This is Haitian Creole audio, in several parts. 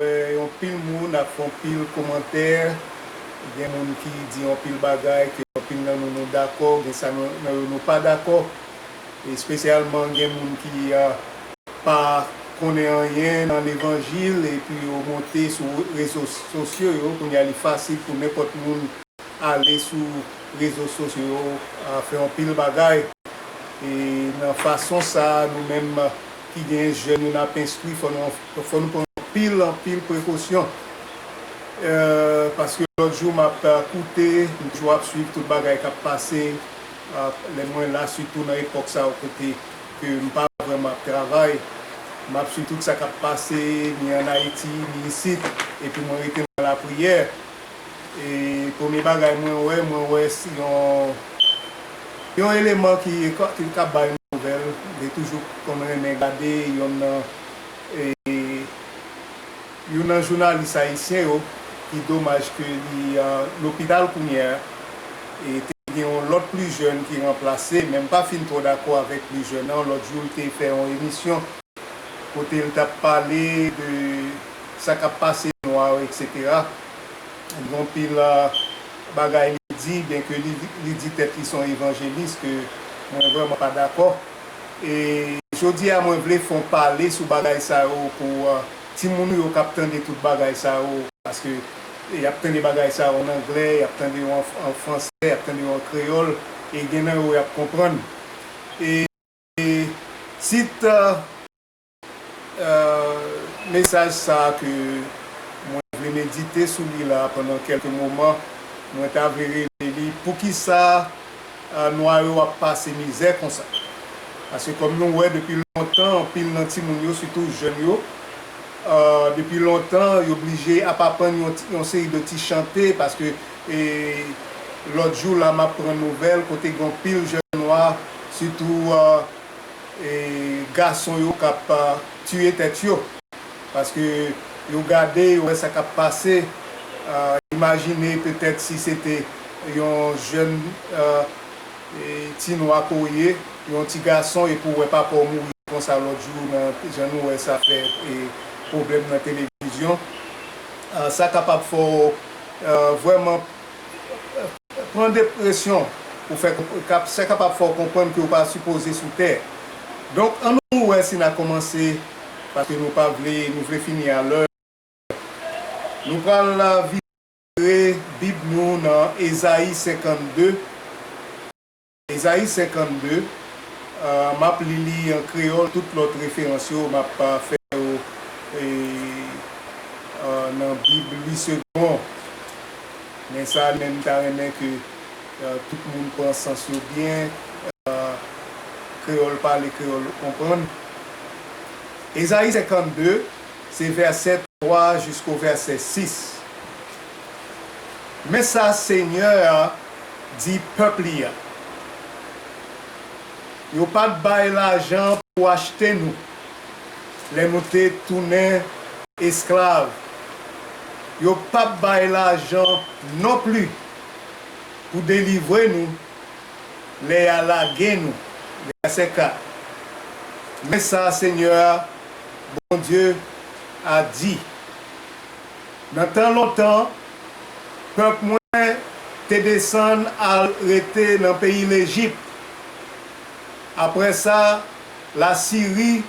Yon pil moun ap fon pil komantè gen moun ki di yon pil bagay ke yon pil nan nou nou dakò gen sa nan yo nou pa dakò espesyalman gen moun ki pa konnen anyen nan levanjil epi yo monte sou rezo sosyo yo kounya li fasil pou nenpòt moun ale sou rezo sosyo yo fè yon pil bagay e nan fason sa nou menm. ki genyen jèn yo n ap enstwi fò nou fò nou pran anpil anpil prekosyon paske lòt jou m ap koute m toujou ap swiv tout bagay k ap pase lè mwen la sitou nan epòk sa yo kote ke m pa vrèman ap travay m ap swiv tout sa k ap pase ni an Ayiti ni isit epi mwen rete nan lapriyè. E premye bagay mwen wè, mwen wè si yon yon eleman ki kab bay yon nouvèl. Li toujou konn renmen gade yonn nan e youn nan jounalis ayisyen yo ki domaj ke li lopital kounyè a. E te gen yon lòt plijèn ki ranplase, men m pa fin twò dakò avèk plijèn nan. Lòt jou l te fè yon emisyon. kote l tap pale de sa kap pase nwa yo etc gen yon pil bagay li di byen ke li di tèt li son evanjelis ke mwen vrèman pa dakò e jodi a mwen vle fon pale sou bagay sa yo pou ti moun nou yo kap tande tout bagay sa yo paske yap tande bagay sa yo an anglè yap tande yo an fransè yap tande yo an kreyòl e gen nan yo yap konprann e. Tit mesaj sa a ke mwen vle medite sou li la pandan kèlke moman, mwen ta vle rele li, Poukisa Nwa yo ap pase mizè konsa? Paske kòm nou wè depi lontan anpil nan timoun yo, sitou jèn yo, depi lontan yo blije ap aprann yon seri de ti chante paske E lòt jou la map pran nouvèl kote gon pil jèn nwa sitou gason yo kap tiye tèt yo paske yo gade yo wè sa kap pase imajine petèt si se te yon jèn ti nwa ke w ye yon ti gason epi w wè papa w mouri konsa lòt jou nan jan nou wè sa fè pwoblèm nan televizyon sa kapab fè w Vrèman, pran depresyon pou fè kap se kapab fè w konprann ke w pa sipoze sou tè. Donk an nou wè si na kòmanse paske nou pa vle nou vle fini a lè. Nou pral vire bib nou nan Ezayi 52. Ezayi 52, M ap li li an kreyòl, tout lòt referans yo m ap fè yo nan Bib Louis Segond. Men sa li menm m ta renmen ke tout moun pran sans yo byen, kreyòl pale, kreyòl konprann. Ezayi 52, se vèsè 3 jisko vèsè 6. Men sa Senyè a di pèp li a, Yo pa t bay lajan pou achte nou lè nou te tounen esklav, yo pap bay lajan nonpli pou delivre nou lè y a lage nou. Vèsè 4 Men sa Senyè a, Bondye a, di. Nan tan lontan, pèp mwen te desann al rete nan peyi Lejip. Apre sa, Lasiri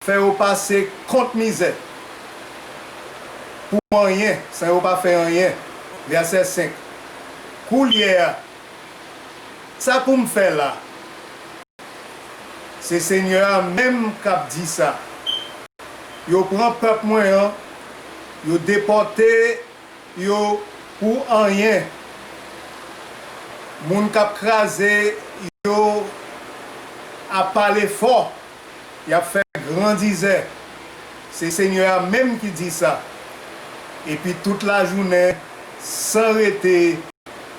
fè yo pase kont mizè pou anyen, san yo pa fè anyen. Vèsè 5, Koulye a, Sa pou m fè la? Se Senyè a menm k ap di sa. Yo pran pèp mwen an, yo depòte yo pou anyen. Moun k ap kraze yo ap pale fò. Yap fè grandizè. Se Senyè a menm ki di sa. Epi tout lajounen, san rete,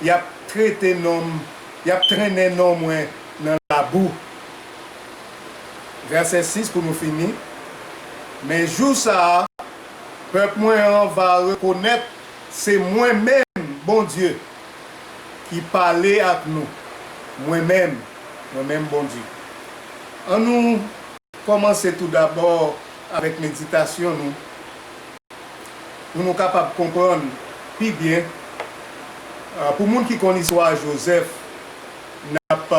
yap trete non m, yap trennen non mwen nan labou. Vèsè 6 pou nou fini, Men jou sa a, pèp mwen an va rekonèt se mwen menm Bondye. ki pale ak nou, mwen menm, mwen menm Bondye. An nou kòmanse toudabò avèk meditasyon nou pou nou kapab konprann pi byen. Pou moun ki konn istwa Jozèf, n ap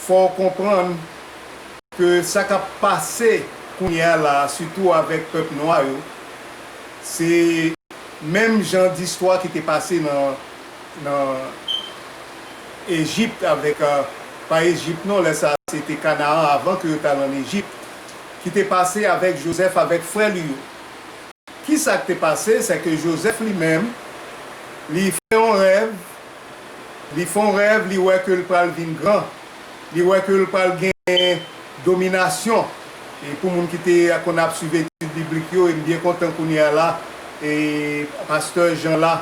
fè w konprann ke sa k ap pase kounye a la a, sitou avèk pèp nwa yo, se. menm jan di istwa ki te pase nan nan Ejipt avèk pa Ejipt non lè sa se te Kanaan avan ke yo t al an Ejipt ki te pase avèk Jozèf avèk frè li yo ki sa k te pase se ke Jozèf li menm li fè yon rèv li fon rèv li wè ke l pral vin gran. li wè ke l pral gen dominasyon pou moun ki te konn ap swiv etid biblik yo e m byen kontan kounye a la pastè Jean la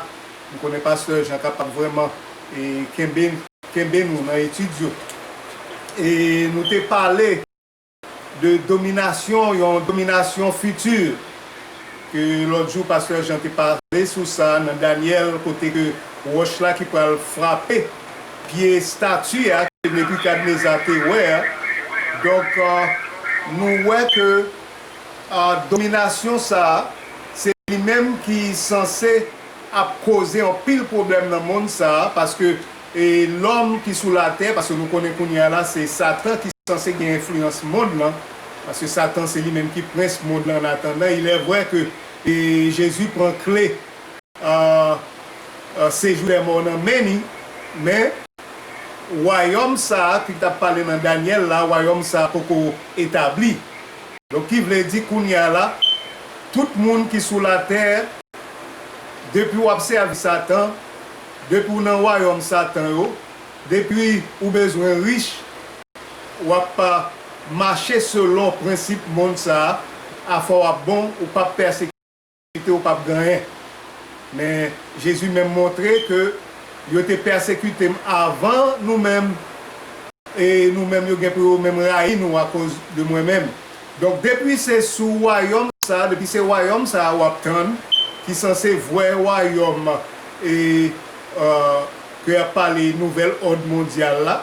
m konnen pastè Jean kapab vrèman kenbe nou nan etid yo e nou te pale. de dominasyon, yon dominasyon fiti ke lòt jou pastè Jean te pale sou sa nan Danyèl kote ke wòch la ki pral frape pye stati a ke Nebikadneza te wè a. Donk nou wè ke dominasyon sa a se li menm ki sanse ap koze anpil pwoblèm nan mond sa a paske E lòm ki sou latè, paske nou konnen kounye a la se Satan ki sanse gen enfliyans mond lan, paske Satan se li menm ki prens mond lan annatandan ilèvwè ke Jezi pran kle sejou dèmò nan men ni, men wayòm sa a ki t ap pale nan Dànyèl la, wayòm sa a poko etabli. Donk ki vle di kounye a la, tout moun ki sou latè, depi w ap sèvi Satan, Depi w nan wayòm satan yo, depi ou bezwen rich, w ap mache selon prensip mond sa a, afè w ap bon, ou p ap pèsekite, ou p ap gen anyen. Men, Jezi menm montre ke yo te pèsekite m avan nou menm, e nou menm yo gen pou yo menm rayi nou akoz de mwen menm. Donk depi se sou wayòm sa, depi se wayòm sa a w ap tann, ki sanse vrè wayòm e ke y ap pale nouvèl òd mondyal la,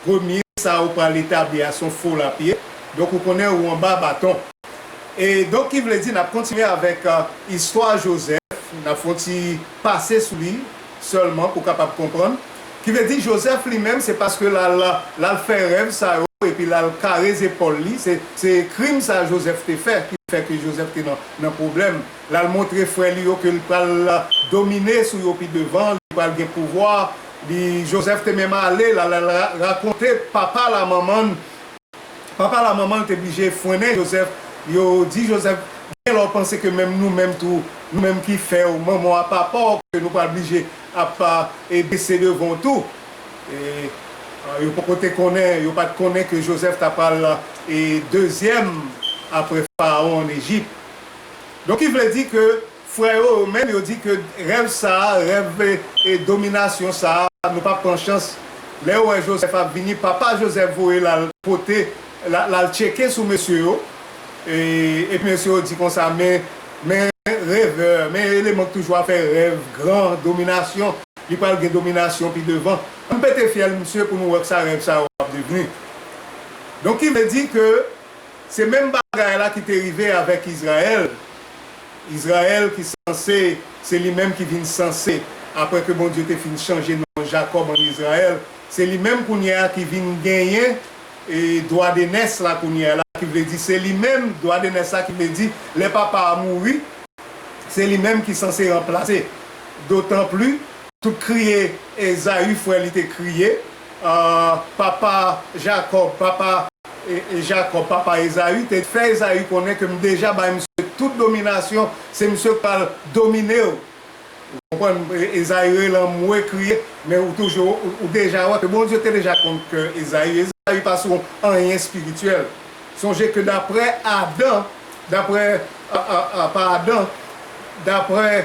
premye sa ou pral etabli a s on fo lapye, donk ou konnen ou anba baton. E donk ki vle di n ap kontinye avèk istwa Jozèf, n ap fè yon ti pase sou li sèlman ou kapab konprann, ki vle di Jozèf li menm se paske l al l al fè rèv sa yo epi l al kare zepòl li, se se krim sa Jozèf te fè ki fè ke Jozèf te nan nan pwoblèm, l al montre frè li yo ke l pral domine sou yo pi devan, li pral gen pouvwa, li Jozèf te menm ale l al rakonte papa l a manman l. Papa l a manman l te blije fwennen Jozèf, yo di Jozèf, Gen lè w panse ke menm nou menm tou, nou menm ki fè w manman w a papa w, ke nou pral blije ap bese devan w tou. Yo poko te konnen, yo pa t konnen ke Jozèf ta pral dezyèm apre Farawon ann Ejip. Donk ki vle di ke. Frè yo yo menm yo di ke rèv sa, rèv dominasyon sa, nou pap pran chans. Lè yo wè Joseph ap vini, papa Joseph voye l al pote, l al tcheke sou mesye yo, epi mesye yo di konsa, men, men revè, men eleman k toujou ap fè rèv gran dominasyon, li pral gen dominasyon pi devan. Ann pete fyèl misye pou nou wè kisa rèv sa yo ap devni. Donk ki vle di ke. Se menm bagay la ki te rive avèk Izrayèl, Izrayèl ki sanse se li menm ki vin sanse apre ke Bondye te fin chanje non Jakòb an Izrayèl, se li menm kounye a ki vin genyen dwadenès la kounye a la ki vle di se li menm dwadenès la ki vle di lè papa a mouri se li menm ki sanse ranplase dotanpli tout kriye Ezayi frè li te kriye. Papa Jakòb, papa. Jakòb, papa Ezayi, te fè Ezayi konnen ke m deja bay misye tout dominasyon, se misye k pral domine ou. Ou konprann? Ezayi rele anmwe, kriye, men ou toujou, ou deja wè ke Bondye te deja konn kè Ezayi. Ezayi pa sou anyen espirityèl. Sonje ke daprè Adan, daprè, pa Adan, daprè.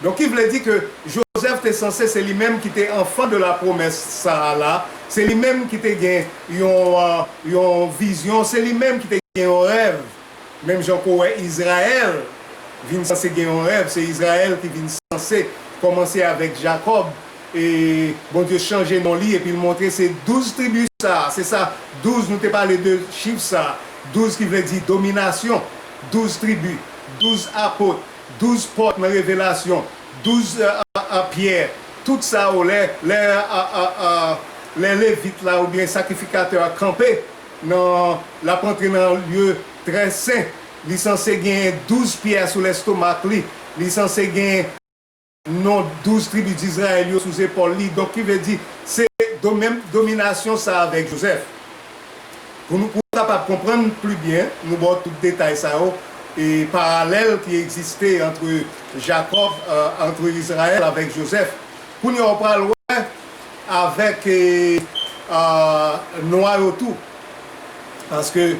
Donk ki vle di ke Jozèf te sanse se li menm ki te anfan de la pwomès sa a la, se li menm ki te gen yon yon vizyon, se li menm ki te gen yon rèv, menm jan ke w wè Izrayèl vin sanse gen yon rèv, se Izrayèl ki vin sanse kòmanse avèk Jakòb e Bondye chanje non li epi l montre se douz tribi sa a, se sa douz nou te pale de chif sa a, douz ki vle di dominasyon, douz tribi, douz apot. Douz pòt nan Revelasyon, douz pyè, tout sa yo lè Levit la oubyen sakrifikatè a kanpe nan, l ap antre nan lye trè sen, li sanse gen douz pyè sou lestomak li, li sanse gen. non douz tribi Dizrayèl yo sou zepòl li, donk ki vle di se do menm dominasyon sa avèk Jozèf. Pou nou pou kapab konprann pli byen, nou ba w tout detay sa yo e paralèl ki egziste antre Jakòb, antre Izrayèl avèk Jozèf. Kounye a ou pral wè avèk nwa yo tou, paske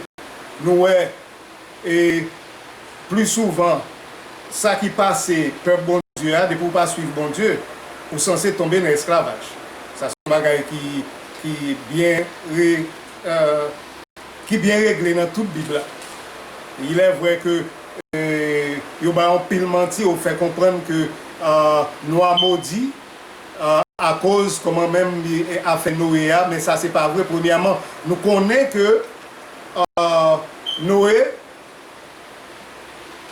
nou wè. E pli souvan sa ki pase pèp Bondye a depi ou pa swiv Bondye ou sanse tonbe nan esklavaj. Sa se yon bagay ki byen regle nan tout bib la. Ilè vrè ke yo bay anpil manti yo fè konprann ke nou a modi akoz kòman menm afè Noe a men sa se pa vre premyèman nou konnen ke Noé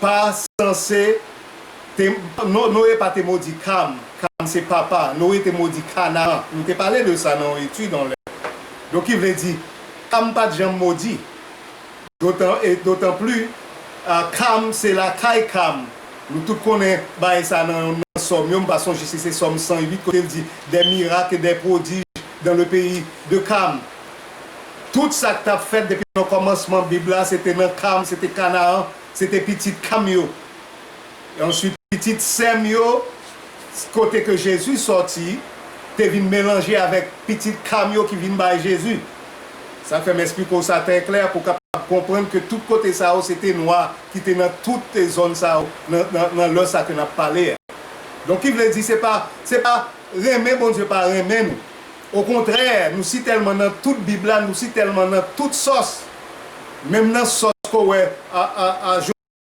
pa sanse te non Noé pa te modi Kam, Kam se papa Noé te modi Kanaan nou te pale de sa nan yon etid yon lè donk ki vle di Kam pat janm modi dotan e dotanpli Kam se lakay Kam nou tout konnen bagay sa nan yon nan Sòm yo m pa sonje si se Sòm 108 kote l di des miracles et des prodiges dans le pays de Kam. Tout sa k t ap fèt depi nan kòmansman Bib la se te nan Kam, se te Kanaan, se te pitit Kam yo. E answit pitit Sèm yo, kote ke Jezi sòti, te vin melanje avèk pitit Kam yo ki vin bay Jezi. Sa k fè m esplike w sa trè klè pou w kapab konprann ke tout kote sa yo se te nwa ki te nan tout zòn sa yo nan lè sa ke n ap pale a. Donk ki vle di se pa se pa renmen Bondye pa renmen nou. Okontrè nou si tèlman nan tout bib la nou si tèlman nan tout sòs menm nan sòs kowè a a a